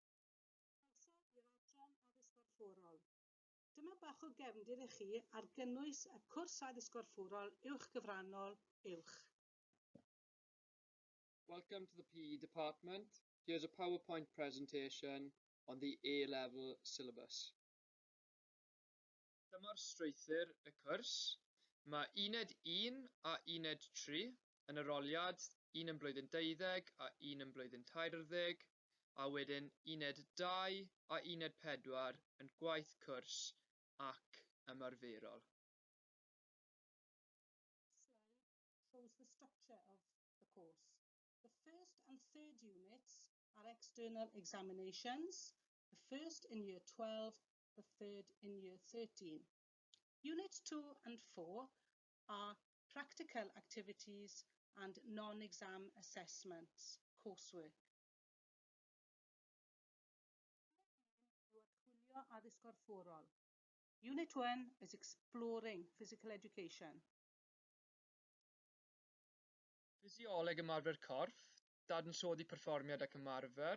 Croeso i'r Adran Addysg Gorfforol. Dyma bach o gefndir i chi ar gynnwys y cwrs Addysg Gorfforol Uwchgyfrannol, Uwch. Welcome to the PE department, here's a powerpoint presentation on the A-level syllabus. Dyma'r strwythur y cwrs. Mae Uned un a Uned tri yn yr oliad, un yn blwyddyn deuddeg a un yn blwyddyn tairwrdeg, a wedyn Uned dau a Uned pedwar yn gwaith cwrs ac ymarferol. This slide shows the structure of the course. The first and third units are external examinations, the first in year twelve the third in year 13. Unit 2 and 4 are practical activities and non-exam assessments coursework. Unit 1 yw archwilio addysg gorfforol. Unit 1 is exploring physical education. Ffisioleg ymarfer corff, dadansoddi perfformiad ac ymarfer,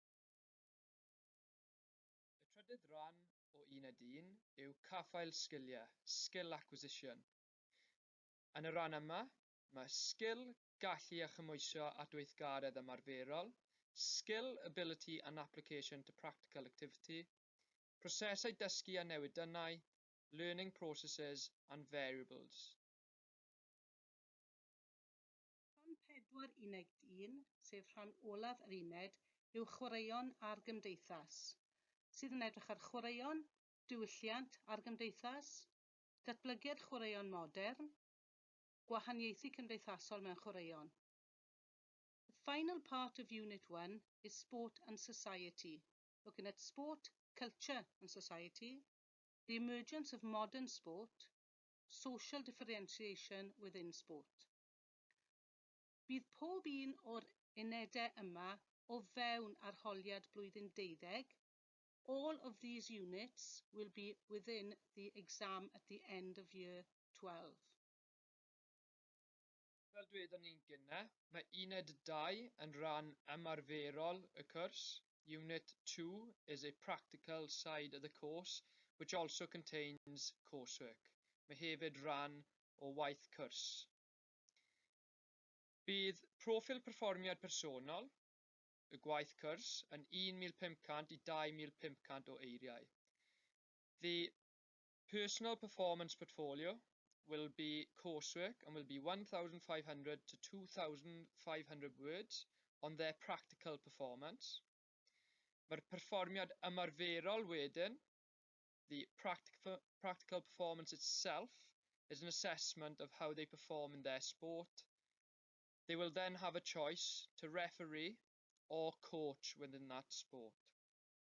Y trydydd ran o Uned Un yw Caffael Sgiliau, Skill Acquisition. Yn y rhan yma, mae sgil, gallu a chymhwysio at weithgaredd ymarferol, skill, ability and application to practical activity, prosesau dysgu a newidynnau, learning processes and variables. Rhan pedwar uned un, sef rhan olaf yr uned, yw Chwaraeon a'r Gymdeithas, sydd yn edrych ar chwaraeon, diwylliant a'r gymdeithas, datblygiad chwaraeon modern, gwahaniaethu cymdeithasol mewn chwaraeon. The final part of Unit One is Sport and Society, looking at sport, culture and society, the emergence of modern sport, social differentiation within sport. Bydd pob un o'r unedau yma o fewn arholiad blwyddyn deuddeg, all of these units will be within the exam at the end of year twelve. Fel dwedon ni'n gynnar, mae uned dau yn rhan ymarferol y cwrs, unit two is a practical side of the course which also contains coursework, mae hefyd rhan o waith cwrs. Bydd proffil perfformiad personol y gwaith cwrs yn 1,500 i 2,500 o eiriau. The personal performance portfolio will be coursework and will be 1,500 to 2,500 words on their practical performance. Mae'r perfformiad ymarferol wedyn the practical performance itself is an assessment of how they perform in their sport. They will then have a choice to referee or coach within that sport.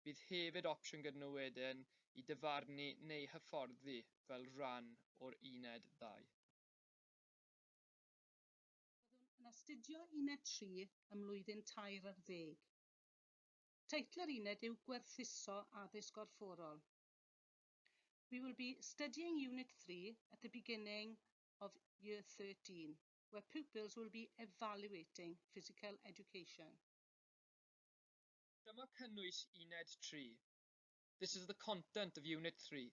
Bydd hefyd opsiwn gyda nhw wedyn i dyfarnu neu hyfforddi fel rhan o'r uned ddau. Byddwn yn astudio uned 3 ym mlwyddyn tair ar ddeg. Teitl yr uned yw Gwerthuso Addysg Gorfforol. We will be studying Unit 3 at the beginning of Year 13, where pupils will be evaluating physical education. Dyma cynnwys Uned 3. This is the content of Unit 3.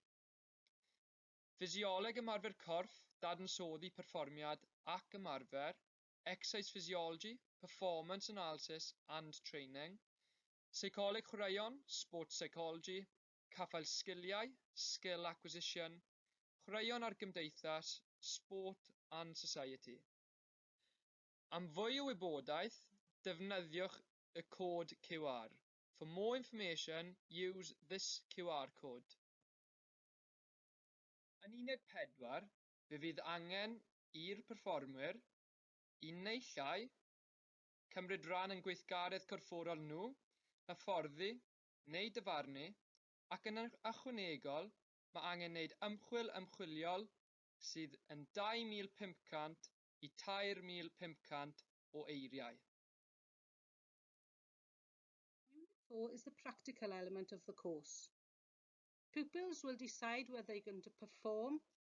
Ffisioleg ymarfer corff, dadansoddi perfformiad ac ymarfer, Exercise Physiology, Performance Analysis and Training, Seicoleg Chwaraeon, Sports Psychology, Caffael Sgiliau, Skill Acquisition, Chwaraeon a'r Gymdeithas, Sport and Society. Am fwy o wybodaeth, defnyddiwch y cod QR. For more information, use this QR code. Yn Uned 4, fe fydd angen i'r perfformwyr, un neu llai, cymryd rhan yn gweithgaredd corfforol nhw, hyfforddi neu dyfarnu, ac yn ychwanegol mae angen neud ymchwil ymchwiliol sydd yn 2,500 i 3,500 o eiriau. Unit four is the practical element of the course. Pupils will decide whether they can perform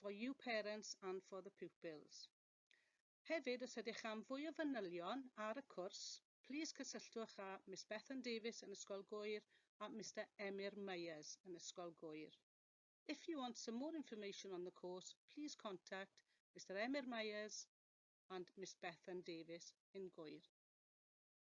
for you parents and for the pupils. Hefyd, os ydych am fwy o fanylion ar y cwrs, plîs cysylltwch â Miss Bethan Davies yn Ysgol Gŵyr a Mister Emyr Myers yn Ysgol Gŵyr. If you want some more information on the course, plîs contact Mister Emyr Myers and Miss Bethan Davies yn Gŵyr.